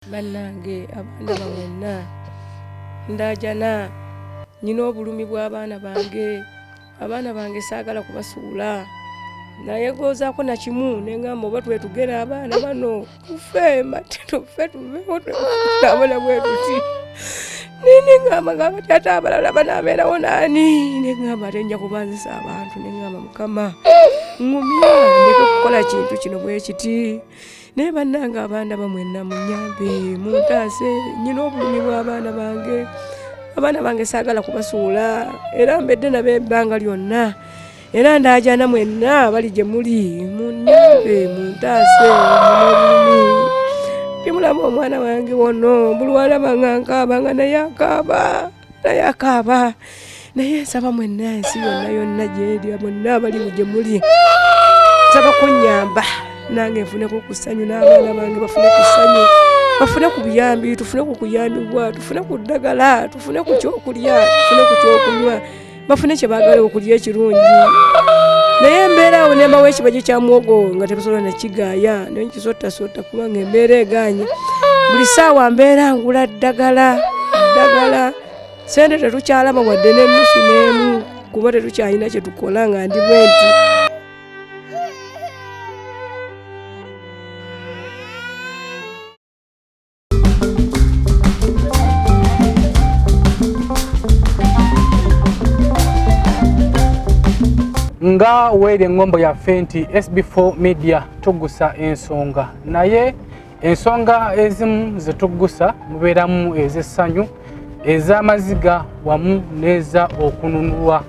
bannange abaana bawonna ndajana nyina obulumi bw'abaana bange abaana bange saagala kubasuula naye gozaako nakimu nengamba oba twetugera abaana bano tufe matino fe tuvewo twabona bwetuti nini ngamba ngamba ti ate abalala banaabeerawo naani nengamba ate nja kubanzisa abantu nengamba mukama ngumya ndeke okukola kintu kino bwekiti naye bannange abaana bamwenna munyambe muntaase nyina obulumi bw'abaana bange abaana bange saagala kubasuula era mbedde nabo ebbanga lyonna era ndaajana mwenna bali gye muli munyambe muntaase munobulumi timulaba omwana wange wono bulwalaba nga nkaaba nga naye akaaba naye akaaba naye nsaba mwenna ensi yonna yonna gyeri bonna abali gye muli nsaba kunyamba nange nfuneko ku ssanyu n'abaana bange bafune ku ssanyu bafune ku buyambi tufune ku kuyambibwa tufune ku ddagala tufune ku kyokulya tufune ku kyokunywa bafune kye baagala okulya ekirungi naye embeera awo nembawo ekibajyo kya mwogo nga tebasobola nakigaaya naye nkisotasota kubanga embeera eganye buli saawa mbeera ngula ddagala ddagala sente tetukyalaba wadde n'ennusu n'emu kuba tetukyalina kye tukola nga ndi bwenti nga weeri eŋŋombo yaffe nti sb4 media tuggusa ensonga naye ensonga ezimu ze tuggusa mubeeramu ez'essanyu ez'amaziga wamu n'eza okununulwa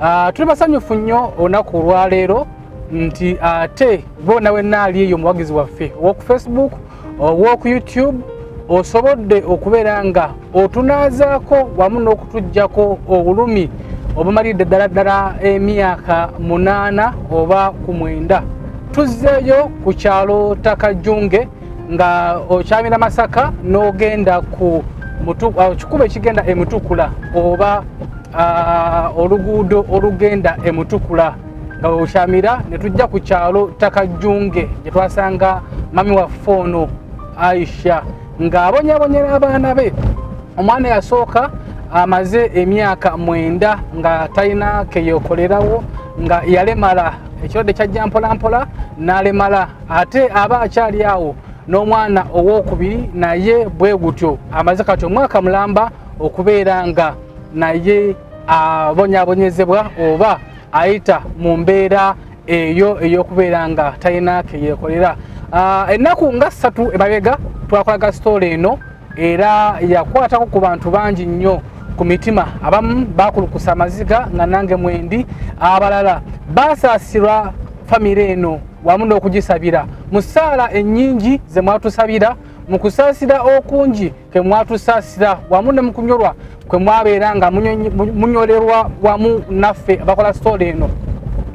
ah, tuli basanyufu nnyo olunaku olwaleero nti ate boona wenna ali eyo omuwagizi waffe ow'oku facebook Walk YouTube osobodde okubeera nga otunaazaako wamu n'okutuggyako obulumi obumalidde ddala ddala emyaka munaana oba ku mwenda tuzzeeyo ku kyalo takajunge nga okyamira masaka n'ogenda ku uh, kikuba ekigenda emutukula oba uh, oluguudo olugenda emutukula nga bwebukyamira ne tujja ku kyalo takajjunge gye twasanga mami waffe ono aisha ng'abonyabonye n'abaana be omwana yasooka amaze emyaka mwenda nga talina keyekolerawo nga yalemala ekirwadde kyajja mpolampola n'alemala ate aba akyali awo n'omwana owokubiri naye bwe gutyo amaze kati omwaka mulamba okubeera nga naye abonyabonyezebwa oba ayita mu mbeera eyo eyokubeera nga talina keyekolera ah, ennaku nga ssatu emabega twakolaga sitoola eno era yakwatako ku bantu bangi nnyo ku mitima abamu bakulukusa amaziga nga nange mwendi abalala basaasirwa famire eno wamu n'okugisabira mu ssaala ennyingi ze mwatusabira mu kusaasira okungi kwe mwatusaasira wamu ne mukunyolwa kwe mwabeera nga munyolerwa wamu naffe abakola sitoola eno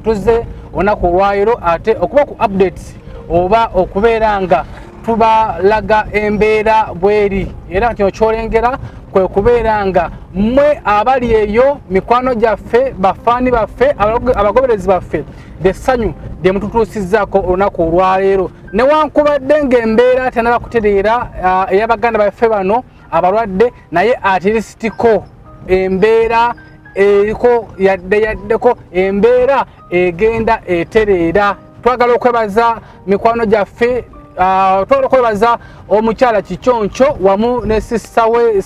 tuzze olunaku olwayiro ate okuba ku updates oba okubeera nga tubalaga embeera bweri era kino kyolengera kwe kubeera nga mmwe abali eyo mikwano gyaffe bafaani baffe abagoberezi baffe lyessanyu lye mututuusizzaako olunaku olwaleero newankubadde ng'embeera tenaba kutereera uh, eyabaganda baffe bano abalwadde naye atirisitiko embeera eriko yadde yaddeko embeera egenda etereera twagala okwebaza mikwano gyaffe uh, twagala okwebaza omukyala kiconco wamu ne sisita we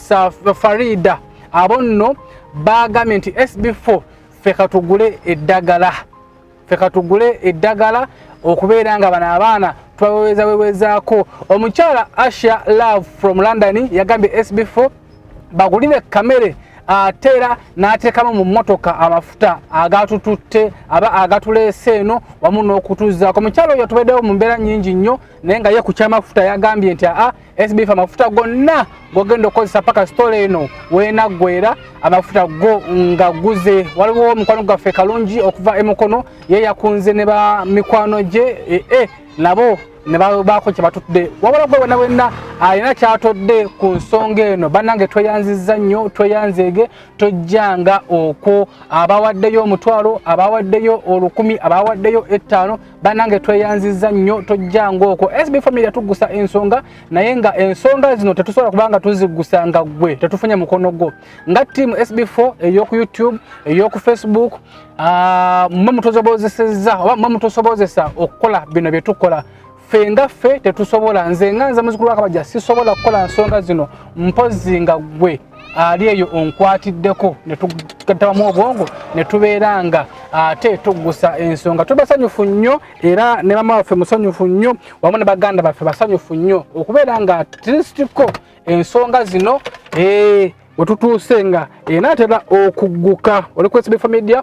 farida abo nno baagambye nti sb4 ffe katugule eddagala ffe katugule eddagala okubeera nga bano abaana twaweweza wewezaako omukyala asha love from london yagambye sb4 bagulire kamere ate era n'ateekamu mu mmotoka amafuta agatututte aba agatuleese eno wamu n'okutuzaako omukyalo oyo tubaddewo mu mbeera nnyingi nnyo naye nga ye ku kyamafuta yagambye nti aa SBF amafuta gonna gogenda okozesa paka story eno wenaggwera amafuta go nga guze waliwo omukwano gwaffe kalungi okuva emukono ye yakunze ne ba mikwano gye ee eh, eh, nabo ne babaako kye batudde wabula gwe wena wenna alina kyatodde ku nsonga eno bannange tweyanziza nnyo tweyanzeege tojjanga okwo abawaddeyo omutwalo abawaddeyo olukumi abawaddeyo ettaano banange tweyanziza nnyo tojja ngaoko sb family yatuggusa ensonga naye nga ensonga zino tetusobola kubanga tuziggusa nga gwe tetufunye mukono gwo nga team sb4 eyoku youtube eyoku facebook ah, mwe mutusobozeseza oba mwe mutusobozesa okukola bino byetukola ffe nga ffe tetusobola nze nga nze muzukulu wakabaja sisobola kukola nsonga zino mpozi nga gwe ali eyo onkwatiddeko netutabamu obwongo netubeera nga ate tuggusa ensonga tuli basanyufu nnyo era ne mama waffe musanyufu nnyo wamu ne baganda baffe basanyufu nnyo okubeera nga trisitiko ensonga zino ee eh, wetutuuse nga enaatera okugguka oli kwesibifa media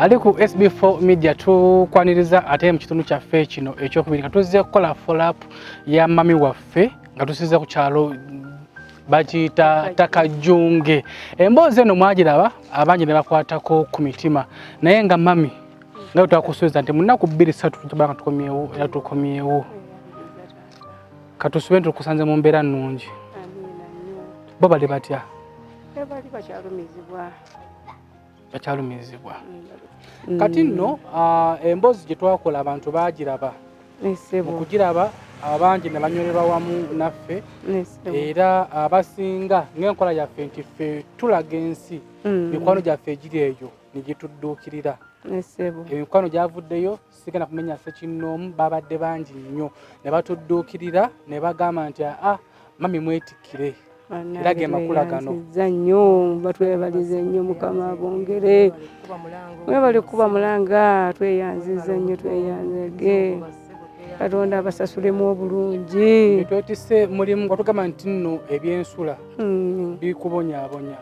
ali ku SB4 Media tukwaniriza ate mu kitundu kyaffe kino ekyokubiri nga tuzze kukola follow up ya mami waffe nga tusiza ku kyalo bakiyita takajunge emboozi eno mwagiraba abangi ne bakwatako ku mitima naye nga mami nga twakusuubiza nti munaku bbiri satu tubanga tukomyewo era tukomyewo katusube nti tukusanze mu mbeera nnungi bo bali batya bakyalumizibwa bakyalumizibwa mm. kati nno ah, emboozi gye twakola abantu baagiraba mu kugiraba abangi ne banywererwa wamu naffe era abasinga ng'enkola yaffe nti ffe tulaga ensi mm. mikwano gyaffe egiri eyo ne gitudduukirira emikwano gyavuddeyo sigenda kumenya sekinnoomu babadde bangi nnyo ne batudduukirira ne bagamba nti aa ah, mami mwetikkire era ge makula gano nnyo batwebalize nnyo mukama bongere mwebale kuba mulanga tweyanziza nnyo tweyanzege katonda abasasulemu obulungi twetise mulimu nga tugamba nti nno ebyensula hmm. bikubonyabonya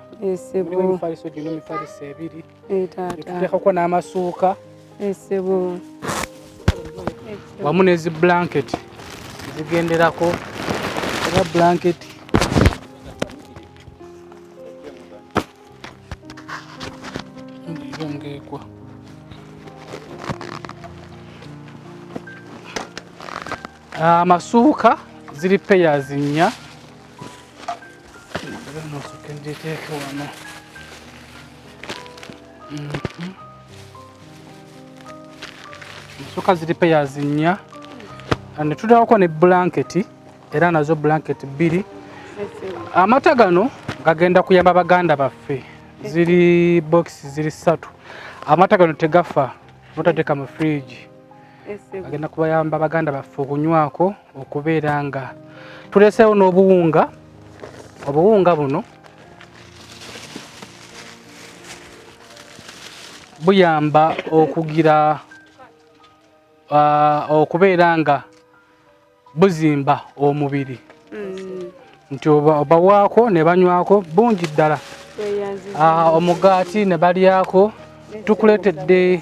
mifaliso gino mifaliso ebiri eh, tuteekako n'amasuuka eh, sebo eh, wamu nezi blanket zigenderako era blanket ngekwa amasuuka ah, ziri peyazi nnya ensuka mhm. ziri peyazi nnya and tutawako ne blanketi era nazo blanketi bbiri amata gano gagenda kuyamba baganda baffe ziri bokisi ziri ssatu amata gano tegafa notateeka mu fridge agenda kubayamba baganda baffe okunywako okubeera nga tuleseewo n'obuwunga obuwunga buno buyamba okugira okubeera nga buzimba omubiri mm. nti obawaako ne banywako bungi ddala ah, omugaati ne balyako tukuleetedde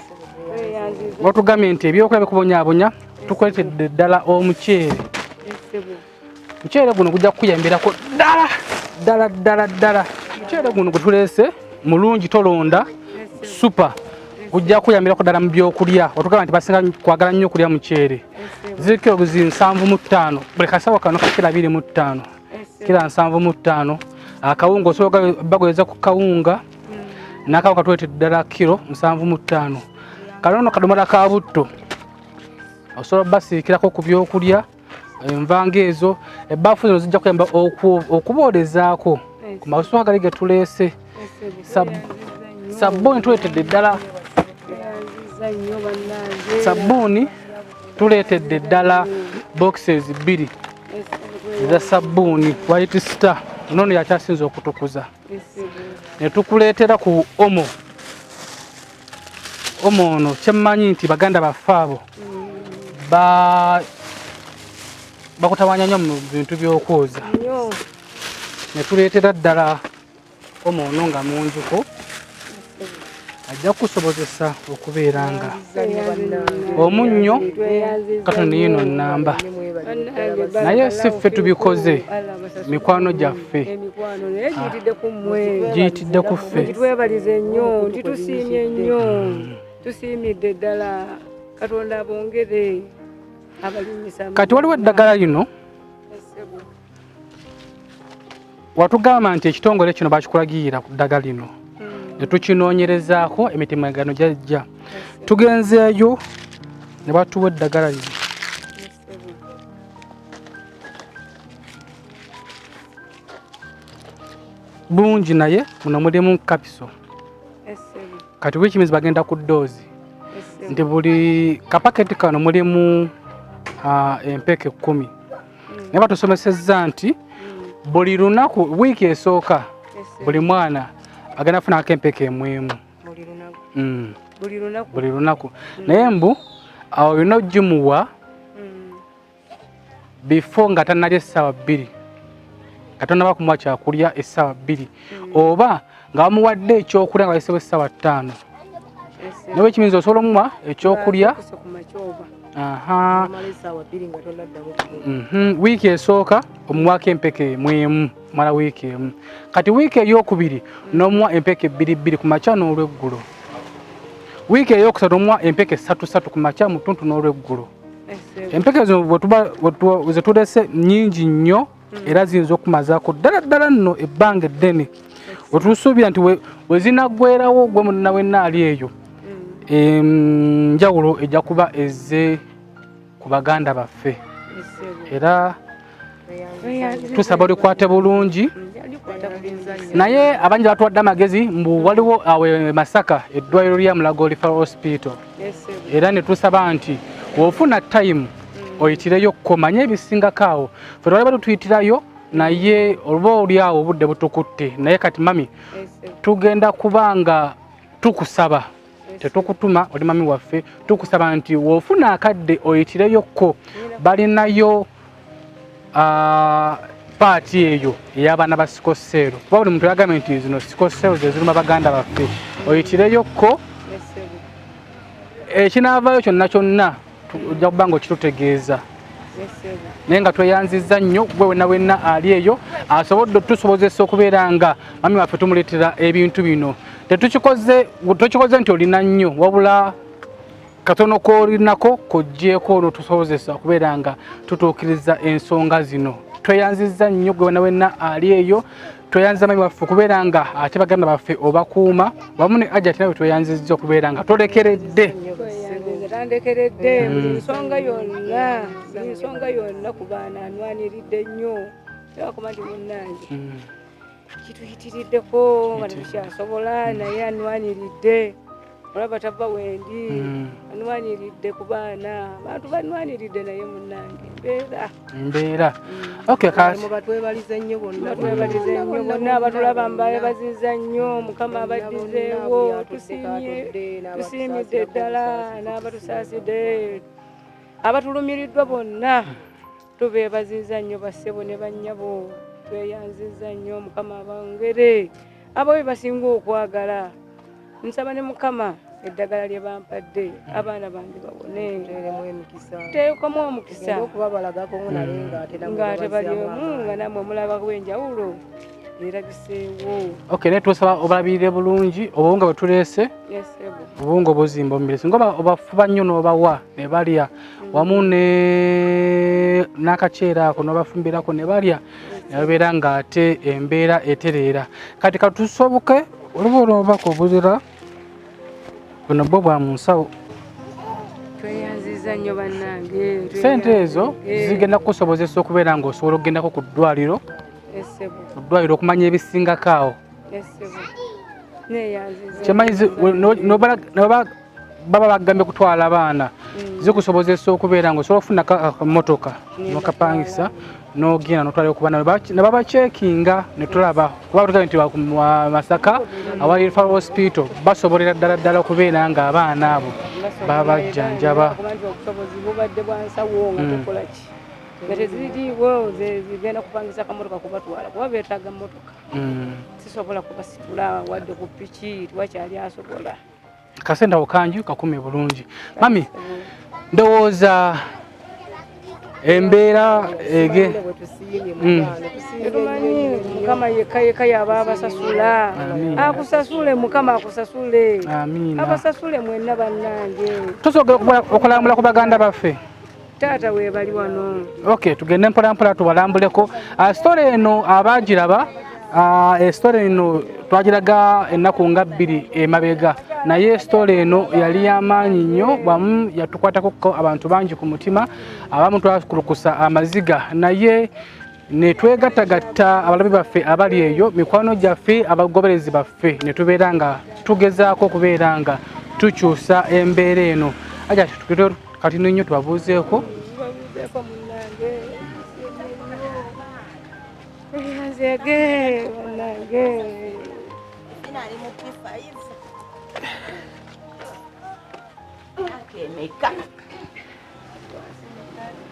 watugambye nti ebyokulya bikubonyabonya tukuleetedde ddala omuceere muceere guno gujja kukuyambirako ddala ddala ddala ddala muceere guno gwe tuleese mulungi tolonda supa kujja kuyambirako ddala mu byokulya otugamba nti basinga kwagala nnyo okulya muceere ziri kilogizi nsanvu mu ttaano buli kasawo kano kakira abiri mu ttaano kira nsanvu mu ttaano akawunga osobola bagweza ku kawunga hmm. nakawo katwete ddala kiro nsanvu mu ttaano kanono kadomola ka butto osobola basiikirako ku byokulya mm. enva ng'ezo ebbaafu zino zijja kuyamba okuboolezaako ku masuwa gali ge tuleese sabbuuni tuleetedde ddala sabbuuni tuleetedde ddala boxes bbiri eza sabbuuni white star nono yakyasinza okutukuza netukuleetera ku omo omu ono kyemmanyi nti baganda baffe abo bakutawanya nnyo mu bintu by'okwoza ne tuleetera ddala omu ono nga munjuko ajja kukusobozesa okubeera nga omunnyo katonda yino nnamba naye si ffe tubikoze mikwano gyaffe giyitidde ku ffe twebalize nnyo nti tusiimye nnyo mm. tusiimidde ddala katonda abongere abalinyisa kati waliwo eddagala lino watugamba nti ekitongole kino bakikulagirira ku ddagala lino hmm. netukinoonyerezaako emitimagano gyajja tugenzeeyo ne batuwa eddagala lino bungi naye muno mulimu kapiso kati which means bagenda ku doozi nti buli kapaketi kano mulimu ah, empeeka ekkumi mm. naye batusomesezza nti mm. buli lunaku wiiki esooka buli mwana agenda kufunako empeeka emwemu buli lunaku mm. buli lunaku buli lunaku mm. naye mbu awo olina ogimuwa mm. before nga tanalya essaawa bbiri nga tonaba kumuwa kyakulya essaawa bbiri mm. oba nga bamuwadde ekyokulya nga bayisewo essaawa ttaano nawe ekiyinza osobola omuwa ekyokulya aha mhm. wiiki esooka omuwaako empeke mwemu mala wiiki emu kati wiiki eyokubiri nomuwa empeke ebbiri bbiri ku makya n'olweggulo wiiki eyokusatu omuwa empeke satu satu ku makya mu ttuntu n'olweggulo empeke zino zetulese nyingi nnyo mm. era ziyinza okumazaako ddala ddala nno ebbanga eddene wetusuubira nti wezinaggwerawo gwe munna wenna ali eyo mm. enjawulo ejja kuba ezze ku baganda baffe era tusaba olikwate bulungi naye abangi batuwadde amagezi mbu waliwo awe masaka eddwaliro lya mulago lifa hospital era netusaba nti wofuna time oyitireyo komanye ebisingako awo fe twali bali tuyitirayo naye oluba olyawo obudde butukutte naye kati mami tugenda kubanga tukusaba tetukutuma oli mami waffe tukusaba nti wofuna akadde oyitireyokko balinayo ah, paati eyo ey'abaana ba sikoseero kuba buli muntu yagambye nti zino sikoseero zeziruma baganda baffe oyitireyokko ekinaavaayo kyonna kyonna ojja kuba nga okitutegeeza naye nga tweyanzizza nnyo gwe wena wenna ali eyo asobodde otusobozesa okubeera nga mami waffe tumuleetera ebintu bino tetukikoze tokikoze nti olina nnyo wabula katono kolinako kojjeeko olwo tusobozesa okubeera nga tutuukiriza ensonga zino tweyanzizza nnyo gwe wena wenna ali eyo tweyanziza mayi waffe okubeera nga ate baganda baffe obakuuma wamu ne ajati nawe tweyanzizza okubeera nga tolekeredde tandekeredde mm. buli nsonga yonna buli nsonga yonna ku baana anwaniridde nnyo tebakuba nti munnange mm. kituyitiriddeko nga tekyasobola naye anwaniridde olaba tava wendi mm. anwaniridde ku baana abantu banwaniridde naye munange mbeera mbeera mm. okay kati batwebalize nnyo bonna twebalize nnyo bonna abatulaba mbaye baziza nnyo mukama abaddizeewo tusiimye tusiimidde ddala n'abatusaasidde abatulumiriddwa bonna tubeebaziza nnyo bassebo ne bannyabo tweyanziza nnyo mukama abangere abo be basinga okwagala nsaba ne mukama eddagala lye bampadde abaana bange babone teekamu omukisa ng'ate bali omu nga namwe mulabako enjawulo Okay, naye twesaba obalabirire bulungi obuwunga bwe tuleese obuwunga obuzimba omubiri singa obafuba nnyo n'obawa ne balya wamu n'akaceera ako n'obafumbirako ne balya ne babeera ng'ate embeera etereera kati katusoboke oluba olwobaka obuzira buno bwo bwa munsawo sente ezo eh. zigenda kukusobozesa okubeera nga osobola okugendako ku ddwaliro oddwaliro okumanya ebisingako awo kyemanyi baba bagambye kutwala abaana mm. zikusobozesa okubeera nga osobola okufuna kamotoka nokapangisa n'ogenda n'otwala okuba ne babacekinga ne tulaba kuba batugambye nti masaka awali referral hospital basobolera ddala ddala okubeera nga abaana abo babajjanjaba nga teziriiwo zigenda kupangisa kamotoka kubatwala kuba betaaga motoka sisobola kubasitula wadde ku piki wakyali asobola kasenta okanju kakume bulungi mami ndowooza embeera ege mm. mukama yekka yekka yaba abasasula akusasule mukama akusasule abasasule mwenna bannange tusobola okulambula ku baganda baffe taata webali wano okay tugende mpola mpola tubalambuleko ah, story eno abagiraba ah, e story eno twagiraga ennaku nga bbiri emabega naye story eno yali yamaanyi nnyo wamu yatukwatako abantu bangi ku mutima abamu twakulukusa amaziga naye ne twegattagatta abalabe baffe abali eyo mikwano gyaffe abagoberezi baffe ne tubeera nga tugezaako okubeera nga tukyusa embeera eno aja kati nenyo tubabuuzeeko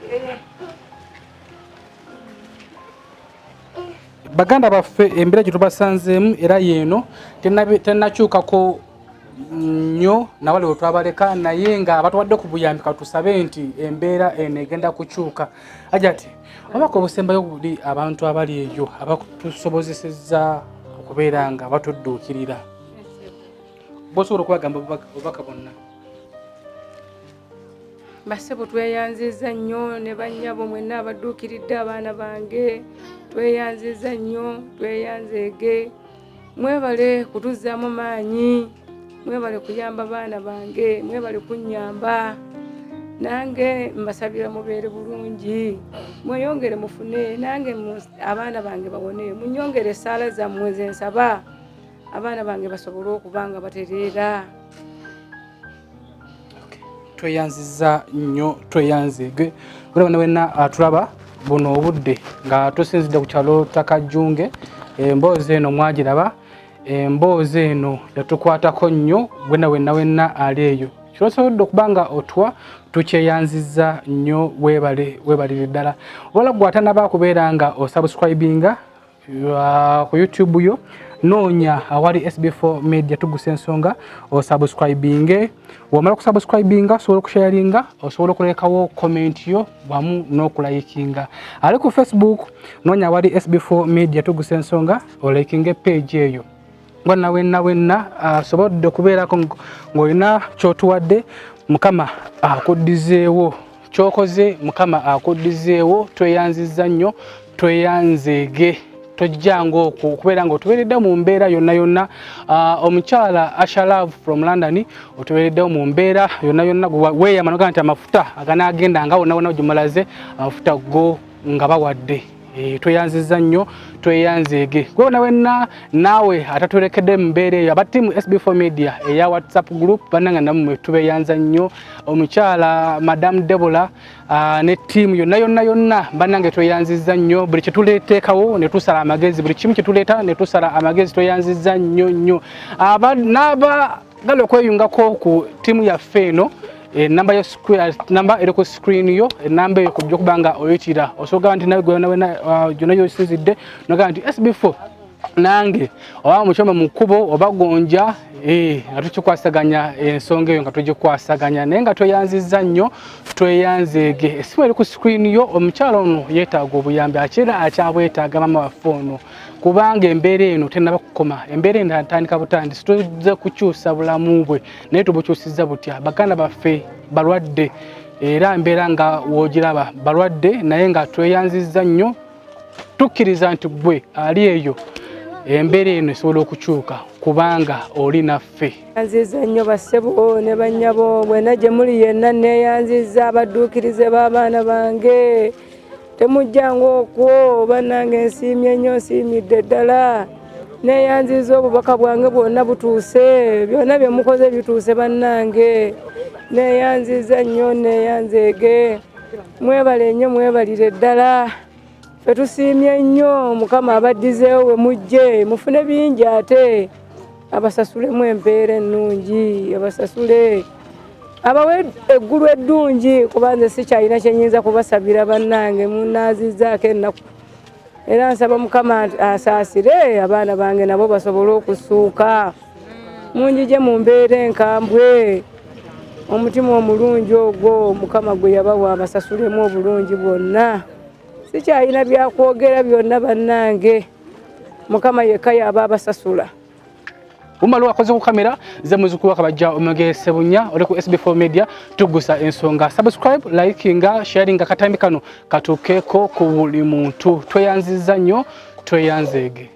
Thank you. baganda baffe embeera gye tubasanzeemu era yeeno tennakyukako nnyo nawale we twabaleka naye nga abatuwadde ku buyambi katusabe nti embeera eno egenda kukyuka ajati obaka obusembayo buli abantu abali eyo abatusobozesezza okubeera nga batudduukirira bosobola okubagamba obubaka bonna basebo tweyanziza nnyo ne bannyabo mwenna abadduukiridde abaana bange tweyanziza nnyo tweyanzeege mwebale kutuzzaamu maanyi mwebale kuyamba baana bange mwebale kunnyamba nange mbasabira mubeere bulungi mweyongere mufune nange abaana bange bawone munyongere esaala zammwe zensaba abaana bange basobole okuba nga batereera tweyanziza nnyo tweyanzege olaba ne wenna atulaba ah, buno obudde nga tusinzidde ku kyalo takajjunge emboozi eno mwagiraba emboozi eno yatukwatako nnyo wena wenna wenna ali eyo kyosobodde okuba nga otwa tukyeyanziza nnyo webale webalire ddala wala gwe atanaba kubeera nga osubscribinga ku youtube yo noonya awali sb4 media tugusa ensonga osubscribinge wamala kusubscribinga osobola okusharinga osobola okulekawo comment yo wamu n'okulayikinga ali ku facebook noonya awali sb4 media tugusa ensonga olayikinge page eyo nga na wenna wenna asobodde okubeerako ng'olina kyotuwadde mukama akuddizeewo kyokoze mukama akuddizeewo tweyanzizza nnyo tweyanzeege tojjanga okwo okubeera nga otubeereddewo mu mbeera yonna yonna ah, omukyala ashalav from london otubeereddewo mu mbeera yonna yonna weeyama noga nti amafuta aganaagenda nga wonna wonna gyemulaze amafuta go nga bawadde eh, tweyanziza nnyo tweyanzeege gwewona wenna naawe atatulekedde mubeera eyo aba tiimu sb4 media eya whatsapp group bananga namwe tubeyanza nnyo omukyala madam debola ah, ne tiimu yonna yonna yonna banange tweyanziza nnyo buli kyetuleteekawo netusala amagezi buli kimu kyetuleeta netusala amagezi tweyanziza nnyo nnyo ah, gala okweyungako ku tiimu yaffe eno enamba eh, eh, namba eri ku screen yo enamba eh, eyo kujja okuba nga oyitira osobola nti nawe gyona yosinzidde nogamba nti sb4 nange oba mukyoma mu kkubo oba gonja nga tukikwasaganya ensonga eyo nga tugikwasaganya naye nga tweyanzizza nnyo tweyanzeege esimu eri ku screen yo omukyalo ono yeetaaga obuyambi akyera akyabwetaaga mama waffe ono kubanga embeera eno tenaba kukoma embeera eno atandika butandisi tuze kukyusa bulamu bwe naye tubukyusiza butya baganda baffe balwadde era mbeera nga wogiraba balwadde naye nga tweyanziza nnyo tukkiriza nti gwe ali eyo embeera eno esobola okukyuka kubanga oli naffe yanziza nnyo bassebo ne bannyabo bwena gye muli yenna neeyanziza abadduukirize b'abaana bange temujjanga okwo banange nsiimye nnyo nsiimidde ddala neyanziza obubaka bwange bwonna butuuse byonna byemukoze bituuse bannange neyanziza nnyo neyanzeege mwebale nnyo mwebalire ddala fetusiimye nnyo mukama abaddizeewo wemujje mufune bingi ate abasasulemu empeera ennungi abasasule abawe eggulu eddungi kuba nze sikyalina kyenyinza kubasabira bannange munaazizaako ennaku era nsaba mukama asaasire abaana bange nabo basobole okusuuka munjije mu mbeera enkambwe omutima omulungi ogwo mukama gwe yabawa abasasulemu obulungi bwonna sikyalina byakwogera byonna bannange mukama yekka yaba abasasula umalo wakoze ku kamera nze muzukulu wakabajja omege sebunya oli ku sb4 media tugusa ensonga subscribe likinga sharinga katambi kano katukeeko ku buli muntu tweyanziza nnyo tweyanzeege